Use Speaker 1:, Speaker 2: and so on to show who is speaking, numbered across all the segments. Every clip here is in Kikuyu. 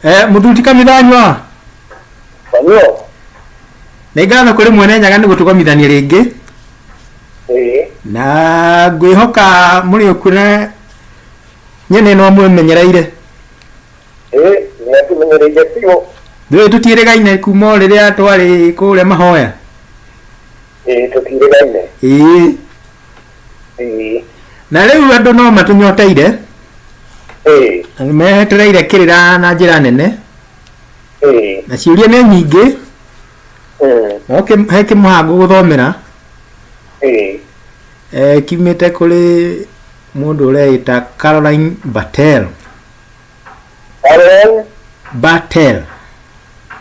Speaker 1: Eh, mũthuti kamithanywa Samuel. nĩ ngatho kũrĩ mwene nyaga nĩ gũtũkomithania rĩngĩ Eh. na ngwĩhoka mũrĩ ũkuona nyene no mwĩmenyereire Eh,
Speaker 2: ni atumenyereire biũ. ndũĩ tũtiĩrĩgaine
Speaker 1: kuma o rĩrĩa twarĩ kũrĩa mahoya
Speaker 2: ĩĩ tũtiirĩgaine
Speaker 1: ĩĩ ĩĩ na rĩu andũ no matũnyoteire ĩĩ na nĩ metereire kĩrĩra na njĩra nene ĩĩ na ciũria nĩ nyingĩ mm, no kĩ- he kĩmũhango gũthomera ĩĩ eh, kiumĩte kũrĩ mũndũ ũreĩta caroline batel Allen
Speaker 2: batel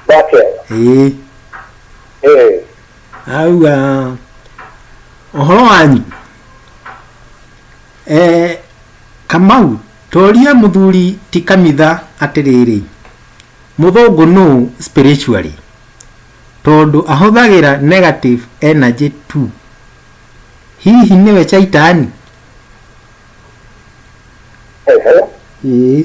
Speaker 1: Bartel ĩĩ ĩĩ auga ũhoro wanyu e, kamau toria mũthuri ti kamitha atĩrĩrĩ mũthũngũ nũ spiritually tondũ ahũthagĩra negative energy tu hihi nĩwe caitani Ehe.
Speaker 2: ĩĩ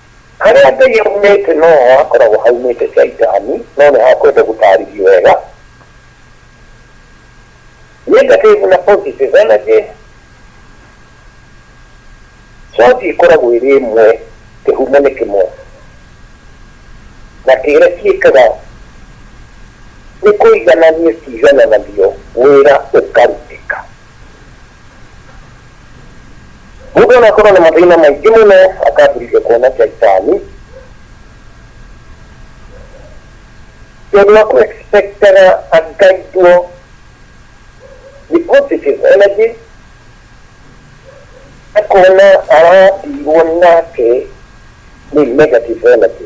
Speaker 2: Harĩa Ngai aumĩte no ho hakoragwo haumĩte Shaitani, no nĩ ha kwenda gũtaarĩrio wega. Negative na positive energy, source ĩkoragwo ĩrĩ ĩmwe, kĩhumo nĩ kĩmwe, na kĩrĩa kĩĩkaga nĩ kũiganania ciigananagio wĩra ũkarutĩka. mũndũ onakorwo na mathĩna maingĩ mũno akambĩrĩria kuona caitani tondũ wa kuexpectaga akaitwo the positive energy akona aratirwo nake nĩ negative energy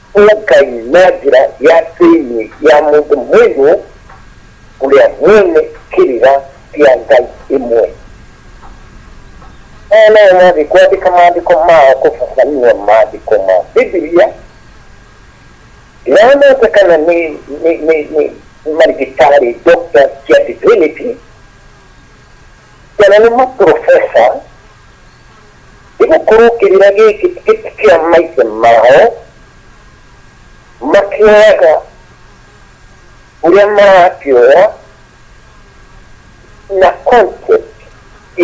Speaker 2: ũkai na njĩra ya thĩinĩ ya mũndũ mũirũ ũrĩa mwene kĩrĩra kĩa Ngai ĩmwe. Aya nao mathiĩ kwandĩka maandĩko mao kũbabanua maandĩko ma Bibilia. Ndĩramata kana nĩ nĩ nĩ nĩ marigĩtarĩ doctor cia divinity kana nĩ maprofesa Nĩ gũkorwo kĩrĩra gĩkĩ ti kĩa maithe mao, makĩoyaga ũrĩa marakĩoya na concept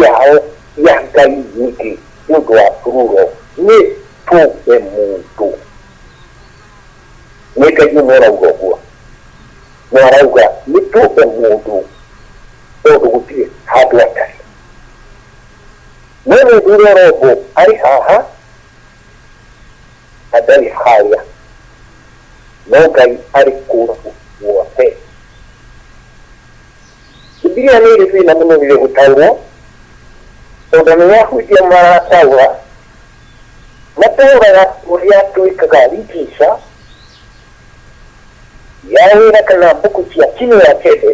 Speaker 2: yao ya Ngai wiki nĩ ũndũ wa Truro nĩ tũmbe mũndũ. Nĩ Ngai ũmwe ũrauga ũguo, na arauga nĩ tũmbe mũndũ tondũ gũtirĩ handũ atarĩ. Mwĩ mũthuro Robo arĩ haha na ndarĩ harĩa, no Ngai arĩ kũndũ guothe. Bibilia nĩ ĩrĩ thĩna mũno rĩrĩa gũtaũrwo, tondũ nĩ ahunjia marataũra, mataũraga ũrĩa twĩkaga ritisha ya wĩra kana mbuku cia kinyũa kĩndĩ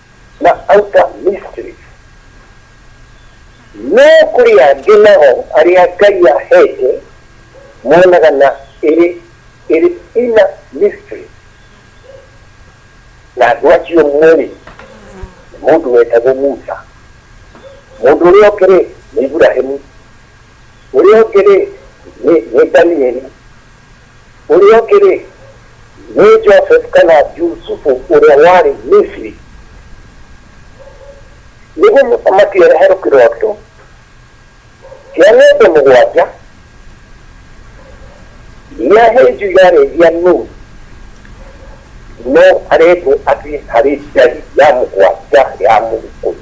Speaker 2: na outer mysteries no kuri angĩ nao arĩa ngai ahete monaga na ĩrĩ ĩrĩ inner mysteries na andũ acio mweri mũndũ wetagwo musa mũndũ ũrĩa ũngĩ rĩ nĩ iburahimu ũrĩa ũngĩ rĩ nĩ nĩ danieli Ũrĩa ũngĩ-rĩ, nĩ Joseph kana Jusufu ũrĩa warĩ Misiri. Nĩguo mũthamaki ereherwo kĩroto kĩa ng'ombe mũgwanja, iria hĩnju yarĩ cia nũgũ, no arendwo athiĩ harĩ njagi ya mũgwanja ya mũgĩkũyũ.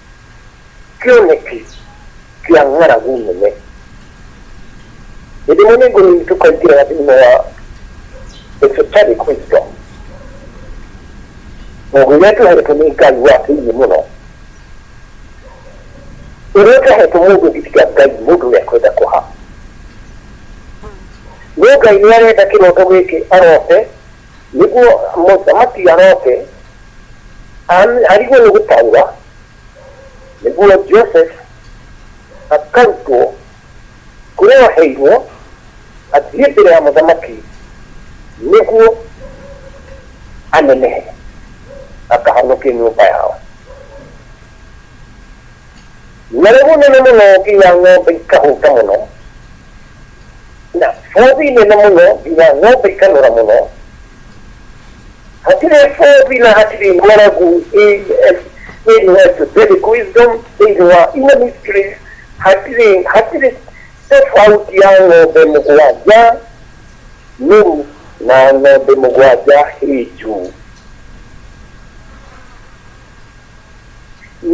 Speaker 2: kĩoneki kĩa ng'aragu nene. Hĩndĩ ĩmwe nĩ ngũrũ itũ kaingĩraga thĩinĩ wa esoteric wisdom, nguo iria tũhetwo nĩ Ngai wa thĩinĩ mũno, ũrĩa ũtahetwo mũndũ ũngĩ tiga Ngai, mũndũ ũrĩa kwenda kũha. No Ngai nĩ arenda kĩroto gĩkĩ arote nĩguo mũthamaki aroke an- arigwo nĩ gũtaũra nĩguo joseph akarutwo kũrĩa waheirwo athiĩ mbere ya mũthamaki nĩguo anenehe akahonokie nyũmba yao na rĩu nene mũno nginya ng'ombe ikahũta mũno na fobi nene muno ina ngobe kanura muno hatire fobi na hatire ngora gu in was Vedic wisdom in wa ina mystery hatire hatire tofauti ya ng'ombe mũgwanja nũru na ng'ombe mũgwanja hĩnju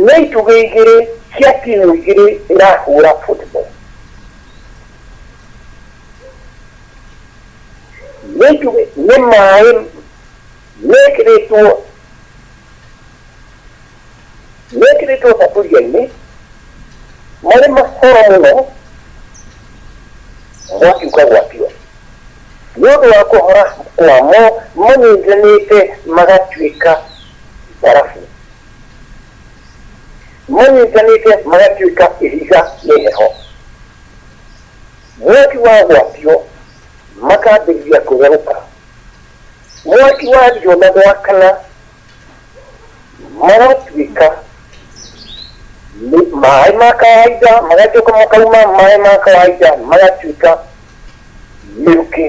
Speaker 2: Nĩ itugĩ igĩrĩ cia timu igĩrĩ irahũra football. Nĩ itugĩ, nĩ maĩ mekĩrĩtwo, mekĩrĩtwo thaburia-inĩ marĩ mahoro mũno mwaki ũkagwatio. Nĩ ũndũ wa kũhora kwamo manyitithanĩte magatuĩka mbarabu, manyitithanĩte magatuĩka ihiga nĩ heho, mwaki wagwatio makambĩrĩria kũtherũka, mwaki wario na gwakana. maratuĩka maĩ ma kawaida magacoka makauma maĩ ma kawaida magatuĩka mĩrukĩ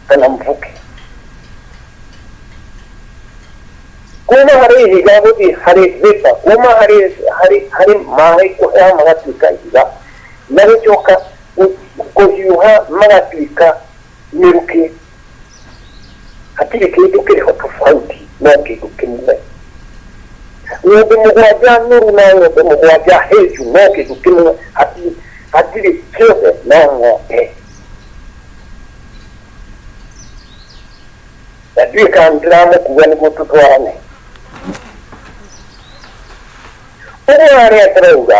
Speaker 2: kana mvuki kuma harĩ ihiga gũthiĩ harĩ vĩpa kuma harĩ harĩ harĩ maĩ kũhea magatuĩka ihiga na gũcoka kũhiũha magatuĩka mĩrukĩ hatirĩ kĩndũ kĩho tofauti no kĩndũ kĩmwe ng'ombe mũgwanja noru na ng'ombe mũgwanja hĩnju no kĩndũ kĩmwe hati- hatirĩ kĩothe no ng'ombe na ndiĩ kana ndĩramũkua nĩguo tũtwarane ũguo arĩa ndĩrauga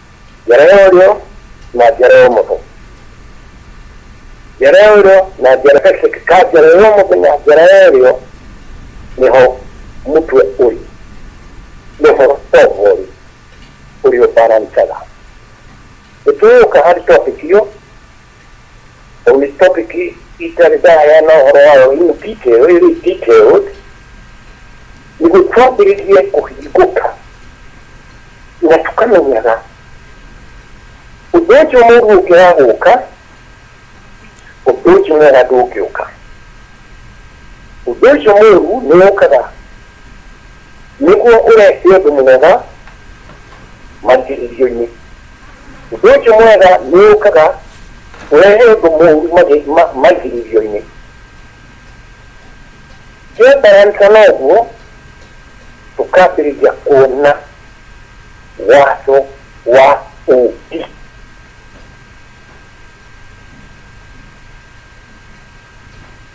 Speaker 2: njara ya ũrĩo na njara ya ũmotho njara ya ũrĩo na njara ka njara ya ũmotho na njara ya ũrĩo nĩho mũtwe ũrĩ nĩho tombo ũrĩ ũrĩo barancaga nĩtũgũka harĩ topic iyo Well, this topic is, is that it's I am not around in detail, it is detailed. Ni gũtwambĩrĩria kũhingũka na tũkamenyaga ũndũ ũcio mũru ũngĩaga gũka ũndũ ũcio mwega ndũngĩũka ũndũ ũcio mũru nĩ ũkaga nĩguo ũrehe ũndũ mwega makĩrĩrio-inĩ Njuki mwega nĩ yũkaga ũrehe ũndũ mũũru magĩ- ma- maigirithio-inĩ. Twĩmbaransa na ũguo, tũkambĩrĩria kuona watho wa ũũmbi.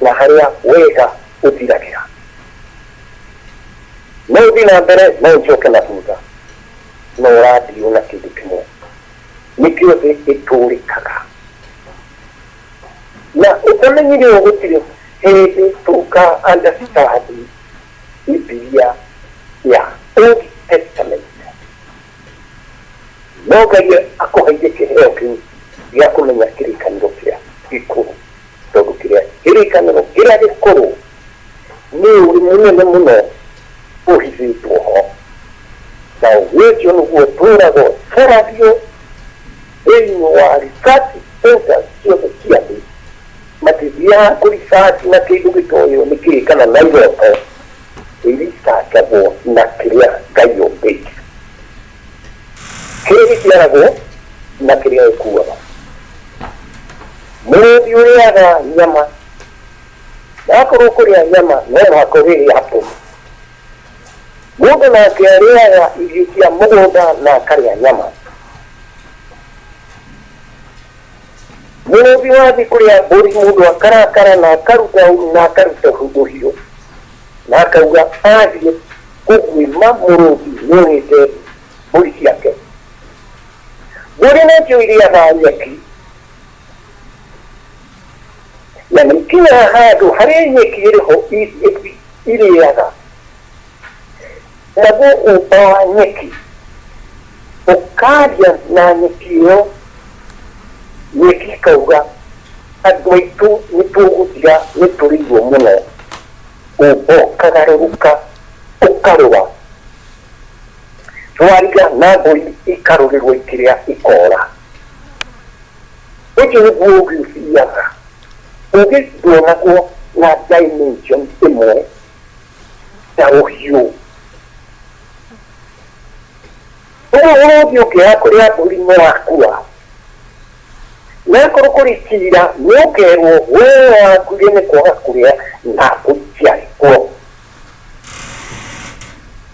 Speaker 2: na harĩa wega ũthiragĩra. No ũthiĩ na mbere, no ũcoke na thutha, no ũrathiĩ o na kĩndũ kĩmwe. Nĩkĩo thĩ ĩtũrĩkaga. Na ũtamenyire ũũ, gũtirĩ hĩndĩ tũka understand Bibilia ya Old Testament. No Ngai akũheire kĩheo kĩu gĩa kũmenya kĩrĩkanĩro kĩrĩa gĩkũrũ. Tondũ kĩrĩa, kĩrĩkanĩro kĩrĩa gĩkũrũ nĩ ũũgĩ mũnene mũno ũhithĩtwo ho, na ũũgĩ ũcio nĩguo ũtũũraga ũtũragio thĩinĩ wa research centers ciothe cia thĩ, magĩthiaga kũ research na kĩndũ gĩtoĩo nĩ kĩĩ kana na iroto, ĩ research agwo na kĩrĩa Ngai ombĩte. kĩrĩa gĩciaragwo na kĩrĩa gĩkuaga mũrũthi ũrĩaga nyama yakorwo kũrĩa nyama no mũhaka ũrĩrĩa hapo mũndũ nake arĩaga irio cia mũgũnda na akarĩa nyama mũrũthi wathiĩ kũrĩa mbũri mũndũ akarakara na akaruta na akaruta ũhiũ na akauga athiĩ kũguĩma mũrũthi nĩũrĩte mbũri ciake mbũri nĩcio irĩaga nyeki na nĩikinyaga handũ harĩa nyeki ĩrĩho irĩaga Naguo ũmba wa nyeki ũkaaria na nyeki ĩyo, nyeki ikauga, Andũ aitũ nĩ tũgũthira, nĩ tũrĩirwo mũno. Ũmba ũkagarũrũka ũkarũra, thwariga na mbũri ikarũrĩrwo ikĩrĩa ikoora. Ũcio nĩguo ũũgĩ ũthiaga. Ũũgĩ nduonagwo na dimension ĩmwe. ũhiũ ũguo ũrũthi ũngĩoya kũrĩa mbũri mũrakua nakorwo kũrĩ cira nĩ ũkerwo we wakuire nĩ kwaga kũrĩa na ũikia kuo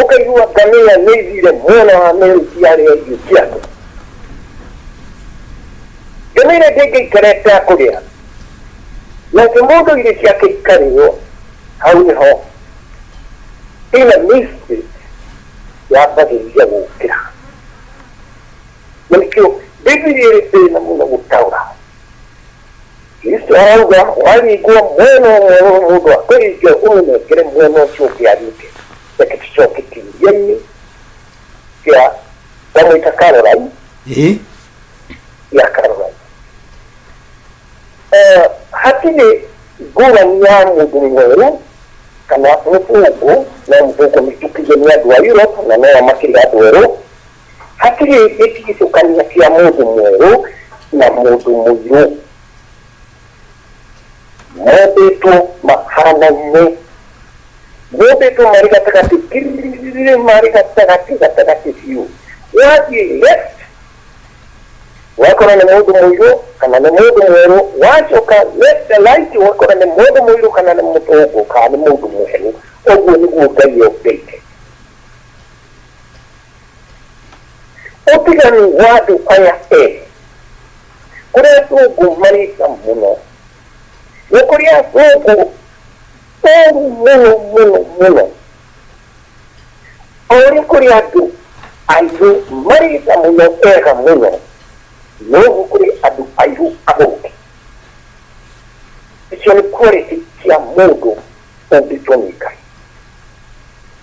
Speaker 2: Ũkaigua ngamĩra nĩ ithire mwena wa merĩ ciarĩa irio ciaku. Ngamĩra ndĩngĩikara ĩtakũrĩa, nake mũndũ irio ciake ikarĩo, hau nĩho ĩna mistake yambagĩrĩria gũkĩra. Na nĩkĩo Bibilia ĩrĩ thĩna mũno gũtaũra. Kristo arauga warigwo mwena ũmwe wa mũndũ wa kũringe ũmũnengere mwena ũcio ũngĩ aringe. Reke tũcoke kĩũria-inĩ kĩa ndamwĩta Caroline Ĩ, ya Caroline. Eh, hatirĩ ngũrani ya mũndũ mwerũ kana mũthũngũ no mũthũngũ mĩtukithie nĩ andũ a Europe na no makĩrĩ andũ erũ Hatirĩ gĩtigithũkania kĩa mũndũ mwerũ na mũndũ mũirũ. Mombĩtwo mahanaine. Mombĩtwo marĩ gatagatĩ, kirrrrrrrĩ, marĩ gatagatĩ, gatagatĩ biũ. Wathiĩ left, ũgakora nĩ mũndũ mũirũ kana nĩ mũndũ mwerũ, wacoka left and right ũgakora nĩ mũndũ mũirũ kana nĩ mũthũngũ kana nĩ mũndũ mwerũ. Ũguo nĩguo Ngai ombĩte. Ũtiga nĩ wandũ aya erĩ kũrĩ athũngũ marĩka mũno, nĩ kũrĩ athũngũ ũru mũno mũno mũno, o ũrĩa kũrĩ andũ airũ marĩka mũno ega mũno, noguo kũrĩ andũ airũ athũki. Icio nĩ quality cia mũndũ ũngĩtua nĩ Ngai.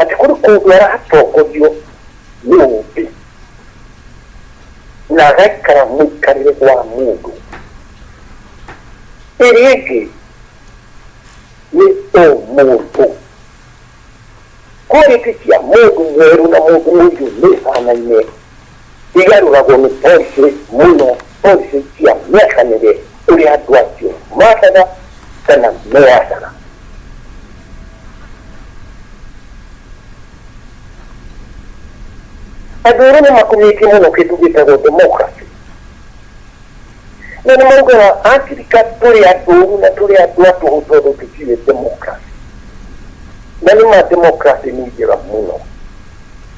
Speaker 2: atĩ kũrĩ kũndũ aratongorio nĩ ũũmbi na agaikara mũikarĩre wa mũndũ. Ĩrĩa ĩngĩ nĩ ũmũndũ. Quality cia mũndũ mwerũ na mũndũ mũirũ nĩ ihanaine. Igarũragwo nĩ policy mũno, policy cia mĩaka mĩrĩ ũrĩa andũ acio mathaga kana meyathaga. Andũ erũ nĩ makumĩtie mũno kĩndũ gĩtagwo democracy. Na nĩ maugaga Afrika tũrĩ andũ ũru na tũrĩ andũ a tũhũ tondũ tũtiũĩ democracy. Na nĩ ma democracy nĩ njega mũno.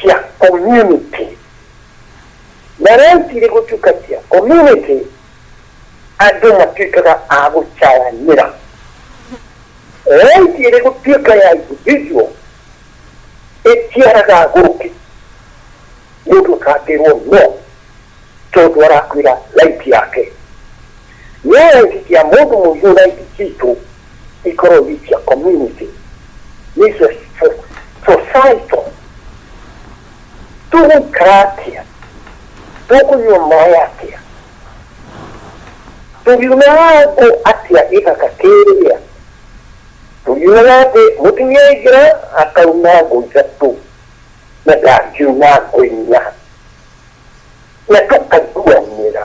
Speaker 2: cia community. Na reciria gũtuĩka cia community, andũ matuĩkaga a gũcayanĩra. Rĩngĩ ĩrĩ gũtuĩka ya individual, ĩtiaraga gũkĩ. Mũndũ akangĩrwo no, tondũ arakwĩra right yake. Nĩ wĩtĩkia mũndũ mũihũra indo citũ ikorwo ni cia community, ni cia societal. Tũgũikara atĩa? Tũkũnyua maĩ atĩa? Tũriunaga ngũ atĩa gĩthaka kĩrĩa? Tũriunaga atĩ mũtumia aingĩra akauna ngũ ithatũ na ndangĩuna ngũ inya na tũkaiguanĩra.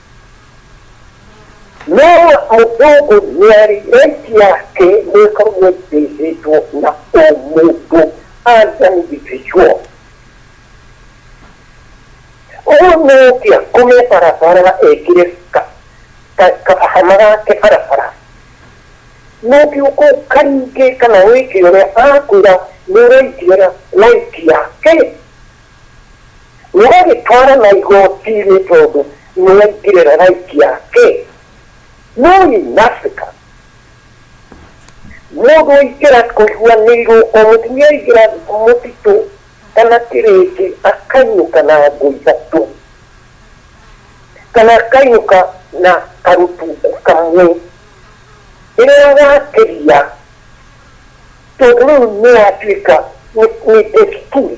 Speaker 2: Mĩario mũthũngũ nĩarĩrĩtie atĩ nĩĩkoragwo ĩbĩndĩtwo na o mũndũ as an individual. Ũguo nĩũkĩa kume barabara ekĩre kahama gake barabara, nũkĩ ũkũka rĩngĩ kana wĩke ũrĩa akwĩra nĩũraikia ũrĩa waikia. Mũgagĩtwarana igoti-inĩ tondũ nĩwaingire ragaiki yake. No in Africa, mũndũ aingĩra kũiguanĩirwo, o mũtumia aingĩra mũtitũ kana kĩrĩndĩ akainũka na ngũ ithatũ, kana akainũka na karũtungu kamwe. Rĩrĩa wakĩria, tondũ rĩu nĩyatuĩka nĩ desturi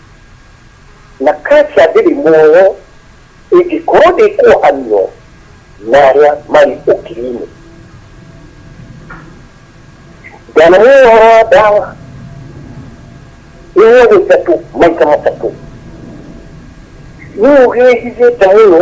Speaker 2: Na Kasia ndĩrĩ muoyo, ĩngĩkorwo ndĩkwohanio na arĩa marĩ ũkiri-inĩ. Ndanamũĩ ũhoro wa ndawa, ĩnyuagwo itatũ, maita matatũ. Nũũ ũgĩĩhithĩte mũno?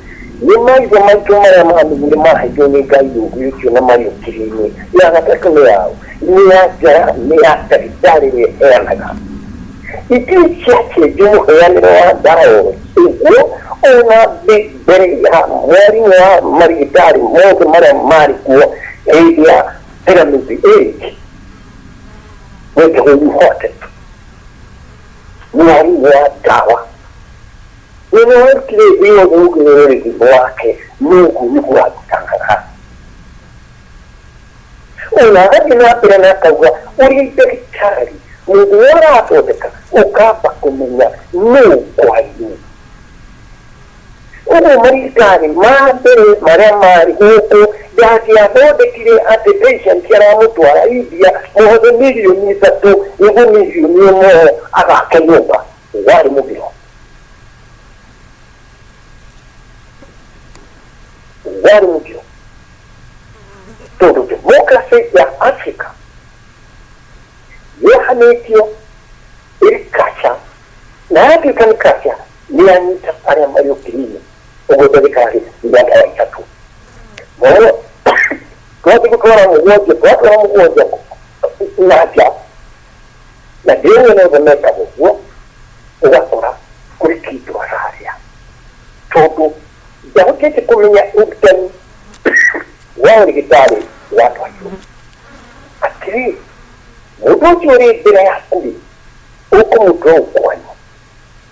Speaker 2: Nĩ maithe maitũ marĩa maamenyire maaheirwo nĩ Ngai ũũgĩ ũcio na marĩ ũkirĩinĩ. Ya gatatũ nĩ ya ũ? Nĩ ya njara, nĩ ya ndagĩtarĩ ĩrĩa ĩheanaga. Itirĩ ciacenjio mũheanĩre wa ndawa o ro ũguo, o na mbĩ, mbere ya mwarimũ wa marigĩtarĩ mothe marĩa maarĩ kuo hĩndĩ ya Piramidi Age, wetagwo Imhotep, mwarimũ wa ndawa. Wĩna wĩkire thĩ yothe ũngĩrora ũrĩthimo wake, Mũũngũ nĩguo wa gũtangatha. O na agathiĩ na mbere na akauga, Ũrĩ ndagĩtarĩ, mũndũ ũrĩa ũrathondeka, ũkamba kũmenya nũũ kwaria. Ũguo marigĩtarĩ ma mbere marĩa maarĩ gũkũ ndangĩathondekire atĩ patient aramũtwara India, mohothe mirioni ithatũ nĩguo mirioni ĩmwe agake nyũmba. Warĩ mũgiro. Warĩ mũgiro. Tondũ democracy ya Africa yehanĩtio ĩrĩ kaca na yatuĩka nĩ kaca nĩ yanyita arĩa marĩ ũkirinĩ ũguo ndagĩtarĩ nĩ andũ a itatũ Mwana- twathiĩ gũtwara mũgwanja twatwara mũgwanja na nja Na ndĩũĩ nĩ ũndũ mekaga ũguo, ũgakora kũrĩ kĩndũ ararĩa. Tondũ ndahotete kũmenya ũrutani wa ũrigĩtarĩ wa andũ akĩrũ. Atĩrĩ, mũndũ ũcio ũrĩ mbere yaku-rĩ, ũkũmũtua ũkwanyu,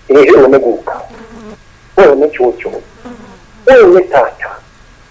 Speaker 2: ĩĩ ũyũ nĩ guka, ũyũ nĩ cũcũ, ũyũ nĩ tata,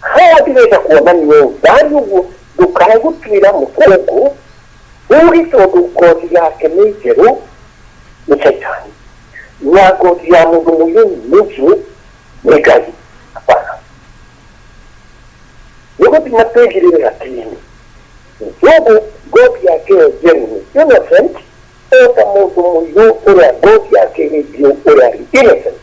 Speaker 2: handi reka kuona nyũmba nĩguo ndũkae gũtuĩra mũkũngũ ũũgĩ tondũ ngothi yake nĩ njerũ nĩ caitani na ngothi ya mũndũ mũyũni nĩ njirũ nĩ ngai hapana nĩ gũthima twĩgirĩre gatini njugu ngothi yake ĩyo njerũ nĩ innocent o ta mũndũ mũirũ ũrĩa ngothi yake ĩrĩ njirũ ũrĩa arĩ innocent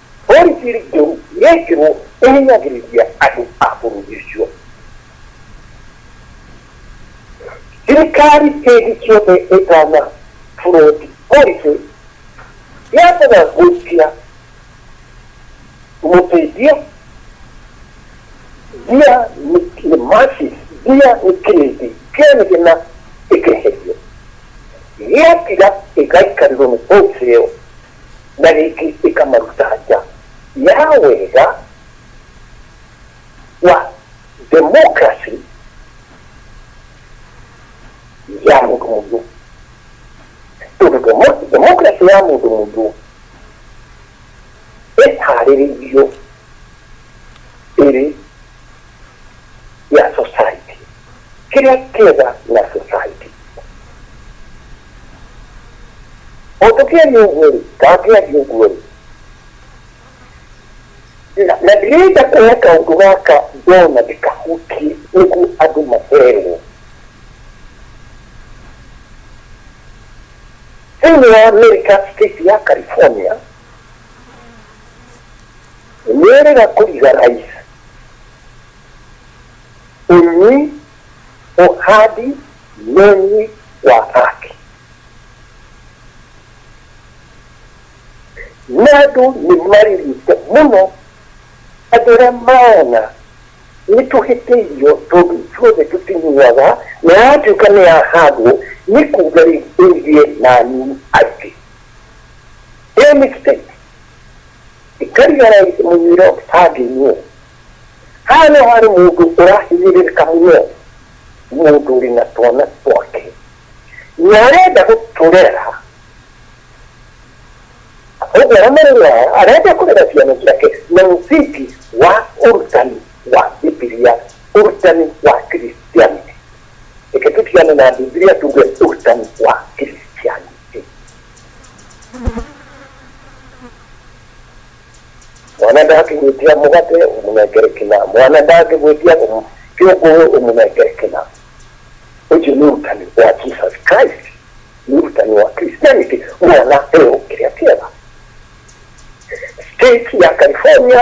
Speaker 2: Borithi njũru yekĩrwo ĩhinyagĩrĩria andũ a bũrũri ũcio. Thirikari hĩndĩ ciothe ĩtana float policy yambaga gũikia mũteithia mbia nĩ masses, mbia nĩ kĩrĩndĩ kĩa mĩgĩna ĩkeherio. Gĩathira ĩgaikarĩrwo nĩ policy ĩyo. na rĩngĩ ĩkamaruta nja ya wega wa democracy ya mũndũ mũndũ tondũ demo- democracy ya mũndũ mũndũ ĩharĩrĩirio ĩrĩ ya society kĩrĩa kĩega na society. O tũkĩaria ũguo rĩ, kana ngĩaria ũguo rĩ, na na ndirenda kuoya kaũndũ gaka ndona ndĩkahutie nĩguo andũ maherwo thĩinĩ wa America state ya California nĩrĩga kũriga rais Unyi uhadi wenye wa haki. Nadu nimalilite muno agera maana nituhitĩirio tondũ ithuothe tũtinyuaga na yatuĩka nĩ yahandwo nĩ kuga rĩ ĩgie nani atĩ ĩmĩkite ikarigara mũnyuĩro kĩbandĩ-inĩ Haha no harĩ mũndũ ũrahinyĩrĩrĩka mũno, mũndũ ũrĩ na twana twake na arenda gũtũrera, ũguo aramarera, arenda kũrera ciana ciake na mũthingi wa ũrutani wa Bibilia, ũrutani wa Christianity. Reke tũtigane na Bibilia tuge ũrutani wa Christianity. Mwana ndangĩgwĩtia mũgate ũmũnengere kĩna, mwana ndangĩgwĩtia ũmũ- kĩũngũrũ ũmũnengere kĩna. Ũcio nĩ ũrutani wa Jesus Christ, nĩ ũrutani wa Christianity, mwana eo kĩrĩa kĩega. State ya California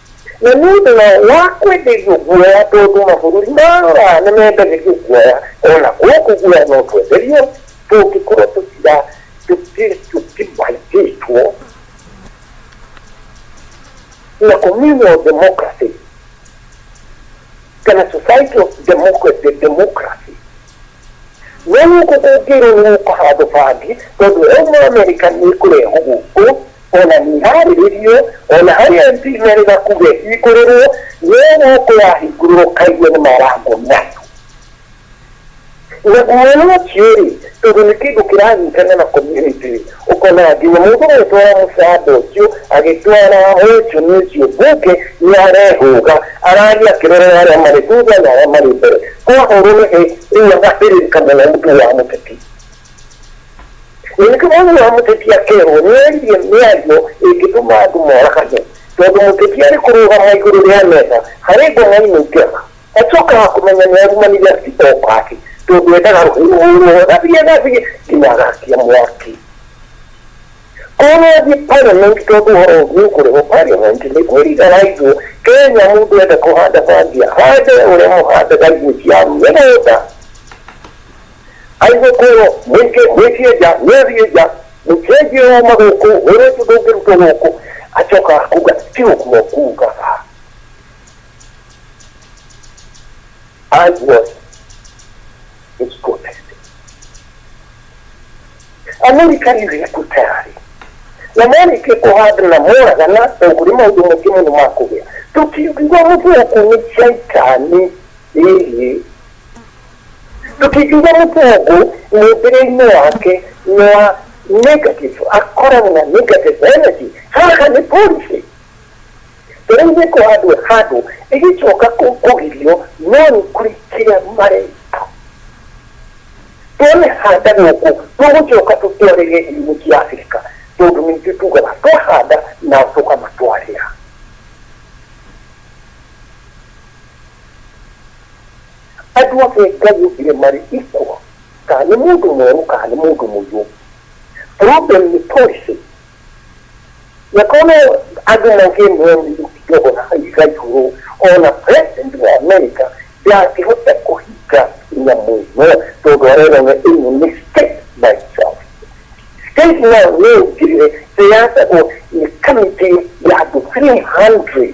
Speaker 2: Na nĩ ũndũ wa kwenderio guoya tondũ mabũrũri maya nĩ mendagĩrio guoya, o na gũkũ guoya no twenderio tũngĩkorwo tũtira tũtimaitĩtwo na communal democracy kana society of democracy democracy. No gũkũ kũngĩrwo nĩ gũkũhandwo bangi tondũ ĩyo mũamerica nĩ ĩkũrehwo gũkũ ona nĩiharĩrĩirio, ona harĩ MP merĩ gakuge hingũrĩrwo, no gũkũ yahingũrĩrwo kaigua nĩ marango mĩatũ. Na guoya ũcio-rĩ, tondũ nĩ kĩndũ kĩranyitana na community-rĩ, ũkona nginya mũndũ ũretwara mũcamba ũcio, agĩtwara wonjoni ũcio mbunge, nĩarehũga, arathiĩ akĩroraga arĩa marĩ thutha na arĩa marĩ mbere. Kwahũrwo nĩ hĩ, rĩu agathĩrĩrĩka mũno mũtwe wa mũteti. na nĩkĩo mwana wa mũteti akerwo nĩaririe mĩario ĩngĩtũma andũ moragane tondũ mũteti arĩ kũrũgama igũrũ rĩa metha harĩ ngoma-inĩ njega acokaga kũmenya nĩ arumanire acito kwake tondũ endaga rũhũrwo gathiĩ gathiĩ nginya agakia mwaki korwo athiĩ parliament tondũ ũhoro ũngĩ ũkũrĩho parliament nĩ kwĩrigaraithwo kenya mũndũ enda kũhanda bangi ahande ũrĩa mũhandaga irio cia mĩgũnda Aigũkorwo mwĩkĩenja mwĩrienja mũkĩenjie roma gũkũ ũrĩtu ndũngĩrutwo gũkũ acoka kuga ti ũguo kugaga I was his protest. Amerika nĩ ĩrĩkute arĩ na marĩkia kũhanda na moraga na ũgũrĩ maũndũ maingĩ mũno ma kũgĩa tũkiuga mũthũkũ nĩ caitani ĩĩ Tũtingiuga mũtongu mũmbĩre-inĩ wake nĩ wa negative, akoragwo na negative energy, haha nĩ policy. Tũrĩ gĩko handũ handũ ĩgĩcoka kũgirio no nĩ kũrĩ kĩrĩa mareka. Twamĩhanda gũkũ tũgũcoka tũtwarĩre ihumo cia Abirika tondũ nĩ ithuĩ tugaga twahanda nao tũkamatwarĩra. Andũ othe Ngai ombire marĩ equal, kana nĩ mũndũ mwerũ kana nĩ mũndũ mũirũ. Problem nĩ policy. Na koguo andũ mangĩmwĩra mũirũ ti ndogo na aiga igũrũ, ona president wa America ndangĩhota kũhinga nyamũ ĩno tondũ arerwo we ĩno nĩ state by itself. State nayo no ĩingĩrĩre, ĩrathagwo nĩ kamĩtĩ ya andũ 300.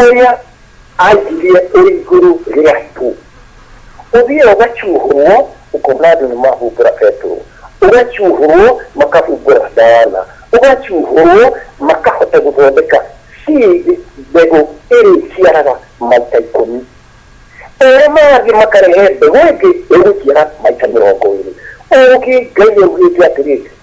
Speaker 2: Ũrĩa aaigirie ũrĩ igũrũ rĩa itu. Ũthiaga ũgacuuhũrwo, ũkona andũ nĩ mahumbũra Petero, ũgacuuhũrwo makahumbũra Ndarana, ũgacuuhũrwo makahota gũthondeka seed, mbegũ ĩrĩa ĩciaraga maita ikũmi. O ũrĩa marathiĩ makarehe mbegũ ĩngĩ ĩgũciara maita mĩrongo ĩĩrĩ. Ũũgĩ, Ngai augĩĩte atĩrĩ,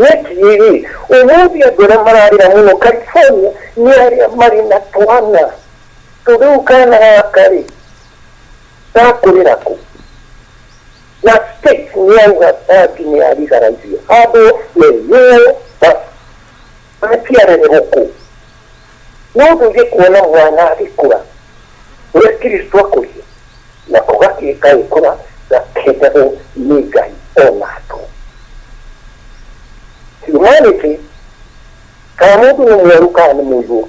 Speaker 2: Nĩ kĩĩ-ĩ! Ũmũthĩ andũ arĩa mararĩra mũno California nĩ arĩa marĩ na twana. To rĩu kana gaka-rĩ, gakũrĩra kũ? Na State nĩyauga Bangi nĩ ya legalize handũ me ruo basi. Maciara nĩ gũkũ. No ndũthiĩ kuona mwana agĩkũra, ũrĩa Kristo akũrire, na ũgatuĩka agĩkũra na kendagwo nĩ Ngai o na andũ. Humanity, kana mũndũ nĩ mwerũ kana nĩ mũirũ,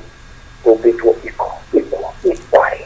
Speaker 2: tũmbĩtwo iko, ikuo, equally.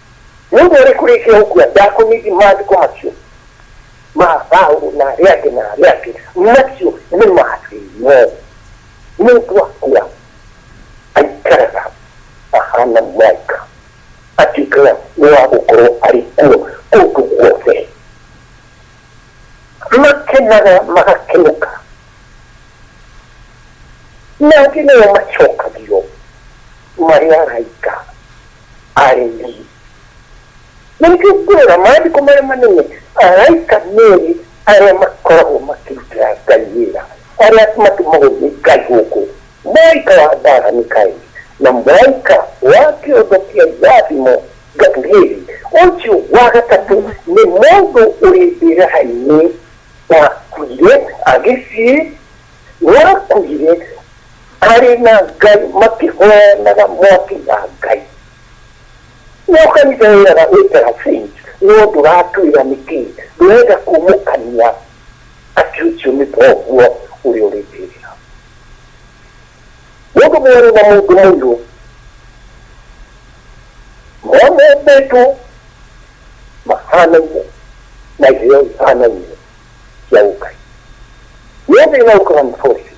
Speaker 2: Nĩ ũndũ ũrĩkũ rĩngĩ ũkua ndakũmĩthi maandĩko macio ma Paulo na arĩa angĩ na arĩa angĩ macio nĩ mathĩno nĩ ũndũ akua aikaraga ahana mwaika atuĩkaga nĩ wa gũkorwo arĩ kuo kũndũ guothe makenaga magakenuka na angĩ nĩo macokagio marĩ araika arĩmi na nĩkĩo ngwĩra maandĩko marĩa manene araika merĩ arĩa makoragwo makĩrutĩra ngai wĩra arĩa matũmagwo nĩ ngai gũkũ mũraika wa mbaara mikaeli na mũraika wa kĩondo kĩa irathimo gabrieli ũcio wa gatatũ nĩ mũndũ ũrĩ mbĩraha-inĩ wakuire agĩciĩ wakuire arĩ na ngai makĩhoyanaga mwaki wa ngai no kanitha wĩraga wĩtera saint no ndũratwĩra nĩkĩ ndũrenda kumũkania atĩ ũcio nĩ thoguo ũrĩa ũrĩtĩrĩra mũndũ mwerũ na mũndũ mũirũ mamembetwo mahanaine na iheo ihanaine cia ũkai nĩ thĩna ũkana forces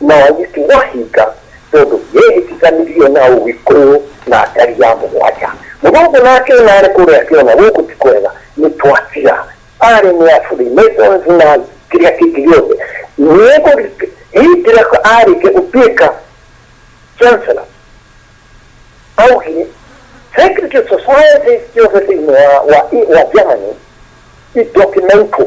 Speaker 2: Nao agĩtigwo ahinga, tondũ nĩehĩtithanirio na ũũgĩ kũũ na ndari ya mũgwanja. Mũthũngũ nake ona arĩ kũrĩa akĩona gũkũ ti kwega, nĩtwatiga. Arĩ nĩ a Free Masons na kĩrĩa kĩngĩ gĩothe. Nĩekũrika, hĩndĩ ĩrĩa arĩkia gũtuĩka Chancellor, augire, Secret societies ciothe thĩinĩ wa wa wa Germany, i documentwo.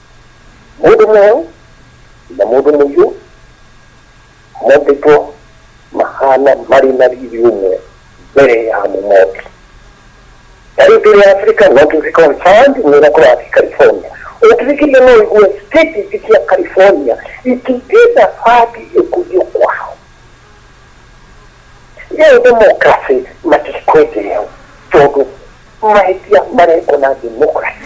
Speaker 2: mũndũ mwerũ na mũndũ mũirũ mombĩtwo mahana marĩ na riri ũmwe mbere ya mũmombi ta rĩu tũrĩ africa no tũthi confirmed nĩ ũrĩa kũrathiĩ california ũngĩthikĩria no ũigue state ingĩ cia california itingĩenda bandi ĩkũrio kwao rĩu democracy matikwendereho tondũ mahĩtia marekwo na democracy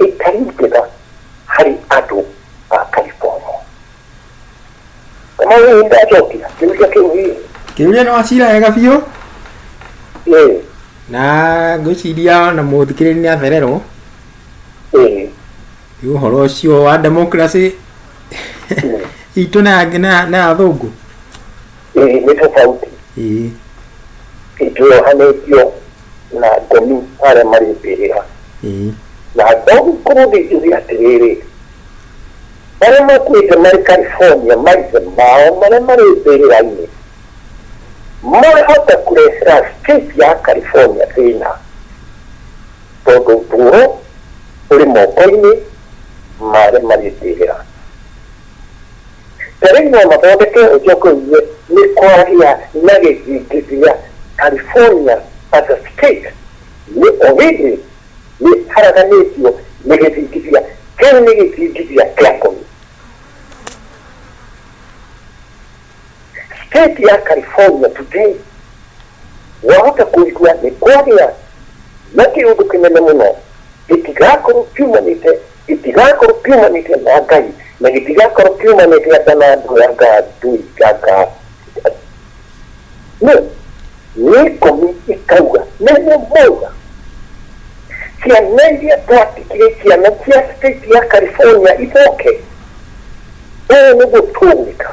Speaker 2: ĩtaringĩra harĩ andũ a Karibomo. Kamau nĩ ndacokia kĩũria kĩu hihi?
Speaker 1: Kĩũria nĩ wacira wega biũ Ĩĩ,
Speaker 2: na
Speaker 1: ngwĩciria na mũthikĩrĩri nĩ athererwo ĩĩ, nĩ ũhoro ũcio wa democracy itũ na ya- na ya- na ya athũngũ ĩĩ
Speaker 2: nĩ tofauti. Ĩĩ. ĩtwohanĩtio na thoni ta arĩa marĩ mbĩrĩra. Ĩĩ. Na no ngĩkorũo ndĩ njũgĩ atĩrĩrĩ, Arĩa makuĩte marĩ California, maithe mao marĩa marĩ mbĩrĩra-inĩ mahota kũrehera state ya California thĩna, tondũ ũtũũro ũrĩ moko-inĩ ma arĩa marĩ mbĩrĩra. Ta rĩu no mathondeke njogoinĩ nĩ kwaria na gĩthingithia. California as a state nĩ already nĩ haraganĩtio nĩ gĩthingithia. Kĩu nĩ gĩthingithia kĩa ngomi. State ya California today wahota kũigua nĩ kwagĩa na kĩũndũ kĩnene mũno gĩtigakorwo kiumanĩte Gĩtigakorwo kiumanĩte na Ngai, na gĩtigakorwo kiumanĩte anga na andũ anga ndũi anga nĩ nĩ ikũmi ikauga nĩguo mauga ciana iria twatikire ciana cia state ya California icoke ũũ nĩguo tũgwĩka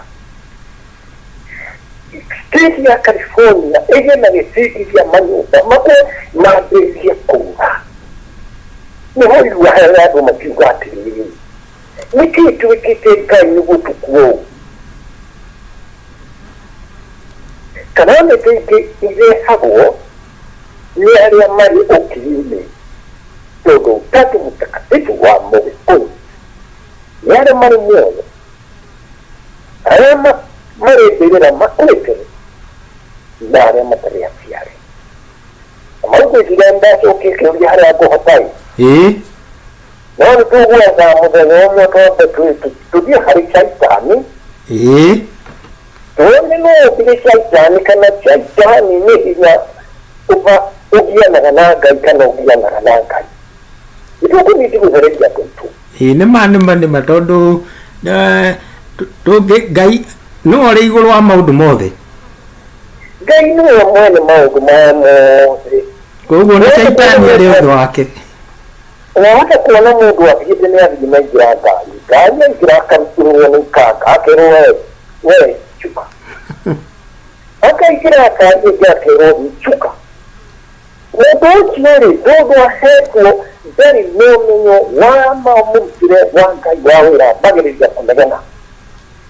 Speaker 2: State ya California ĩgĩe na gĩcirithia manyũmba mamwe mambĩrĩrie kũra. Nĩho irua he andũ makiuga atĩrĩrĩ, nĩkĩ twĩkĩte Ngai nĩ gũtũkua ũguo? Calamity ingĩ irehagwo nĩ arĩa marĩ ũkiri-inĩ, tondũ Utatu Mtakatifu wa Mũgĩkũyũ nĩ arĩa marĩ muoyo. arĩa ma- marĩkĩrĩra makũrĩkĩrĩ na arĩa matarĩ aciarĩ na maugĩcira ndacokie kĩũria harĩa ngũhotai ĩĩ no nĩ tũgwetha mũthenya ũmwe twambe twĩ- tũ- tũthiĩ harĩ caitani ĩĩ tuone no ũthire caitani kana caitani nĩ hinya ũba ũgianaga na ngai kana ũgianaga na ngai nĩtũkũnyiti gũthereria andũ aitũ ĩĩ nĩma nĩma nĩma
Speaker 1: tondũ eh, tũ- tũngĩ ngai nĩwe ũrĩ igũrũ wa maũndũ mothe
Speaker 2: ngai nĩwe mwene maũndũ maya mothe koguo nĩ
Speaker 1: caitani arĩ ũndũ wake wahota
Speaker 2: kuona mũndũ athiĩte nĩ athiĩ na ingĩra ngari ngari yaingĩra akarutũrwo nĩ ikanga akerwo we we cuka akaingĩra ngari ĩngĩ akerwo thiĩ cuka Ũndũ ũcio-rĩ, ndũthũ aheetwo ndarĩ na ũmenyo wa ma wa mũrutĩre wa Ngai wa wĩra mbagĩrĩria kũnegena.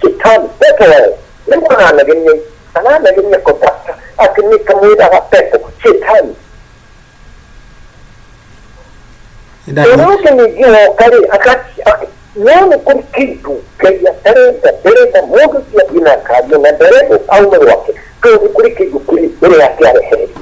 Speaker 2: Shetani, Petero e, nĩ kuona anegenia i, kana anegenia kũtata atĩ nĩ kamwĩraga pepo, Shetani. Nĩndathĩ- Ũrĩa ũngĩ ningĩ woka-rĩ, agati- a- no nĩ kũrĩ kĩndũ Ngai atarenda, ndarenda mũndũ ũcio athiĩ na ngari ĩyo, na ndarenda aume gwake, tondũ nĩ kũrĩ kĩndũ kĩrĩ mbere yake arehererio.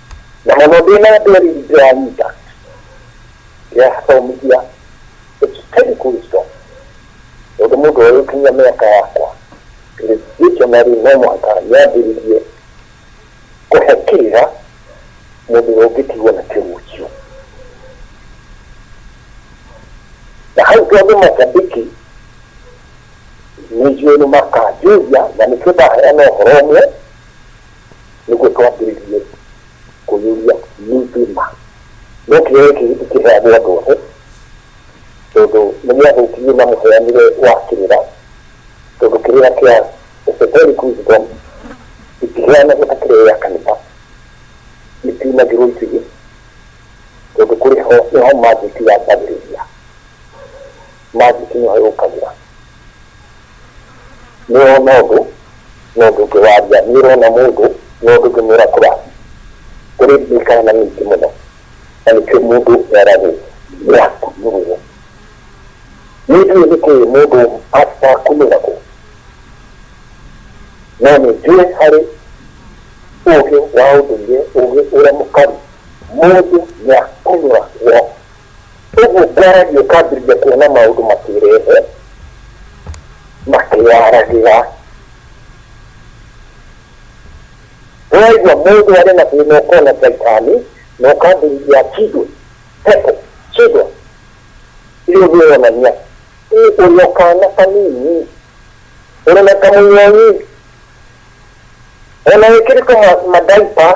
Speaker 1: na mũno ndĩ na
Speaker 2: nderi ndĩranyita ndĩrathomithia ĩkĩkeni kristo tondũ mũndũ ũyũkinyia mĩaka yakwa dictionary no mũhaka yambĩrĩrie kũhe kĩrĩra mũndũ ũrĩa ũngĩtigwo na kĩgucio na hau tondũ macambĩki nĩnjũĩ nĩ makanjũria na nĩkĩo ndaheana ũhoro ũmwe nĩguo twambĩrĩrie kũiyũria mĩtĩ-ma. No kĩoya gĩkĩ gĩtikĩheagwo andũ othe, tondũ nĩ gĩathũkirio na mũheanĩre wa kĩrĩra, tondũ kĩrĩra kĩa Esoteric Wisdom gĩtiheanagwo ta kĩrĩa gĩa kanitha, gĩtiunagĩrwo itugĩ, tondũ kũrĩ ho nĩho magic yambagĩrĩria. Magic nĩho yũkagĩra. Nĩwona ũndũ no ndũngĩwaria, nĩũrona mũndũ no ndũngĩmwĩra kũrathiĩ. Kũrĩ mĩkana mĩingĩ mũno na nĩkĩo mũndũ eragwo nĩakumirwo. Nĩnjũĩ nĩkĩ mũndũ akumĩragwo no nĩnjũĩ harĩ ũgĩ wa ũndũire, ũgĩ ũrĩa mũkaru mũndũ nĩakumiragwo Ũguo ngwaragia ũkambĩrĩria kuona maũndũ makĩĩrehe makĩĩaragĩra. Ũraigua mũndũ arĩ na thĩna ũkona caitani na ũkambĩrĩria akindwe, pepo, shindwa. Icio nĩ ironania ũrĩ o kaana kanini, ũrĩ na kamũnyonyi, o na wĩkĩrĩtwo ma diaper.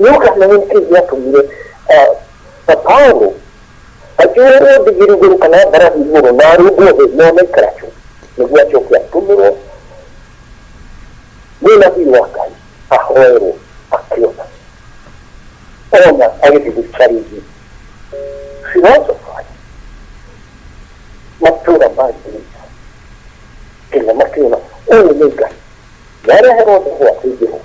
Speaker 2: Nĩ ũndũ ũcio nĩkĩ gĩatũmire Paulo akĩoherwo ndigiri igũrũ kana mbarathi igũrũ na arũngwo thĩ na onaikara tu nĩguo acoke atũmĩrwo nĩ nabii wa Ngai ahoerwo akĩona ona agĩthiĩ gĩcarithi philosophers matũũra ma Greece nginya makĩona ũyũ nĩ Ngai yareherwo thĩ gwake Jehova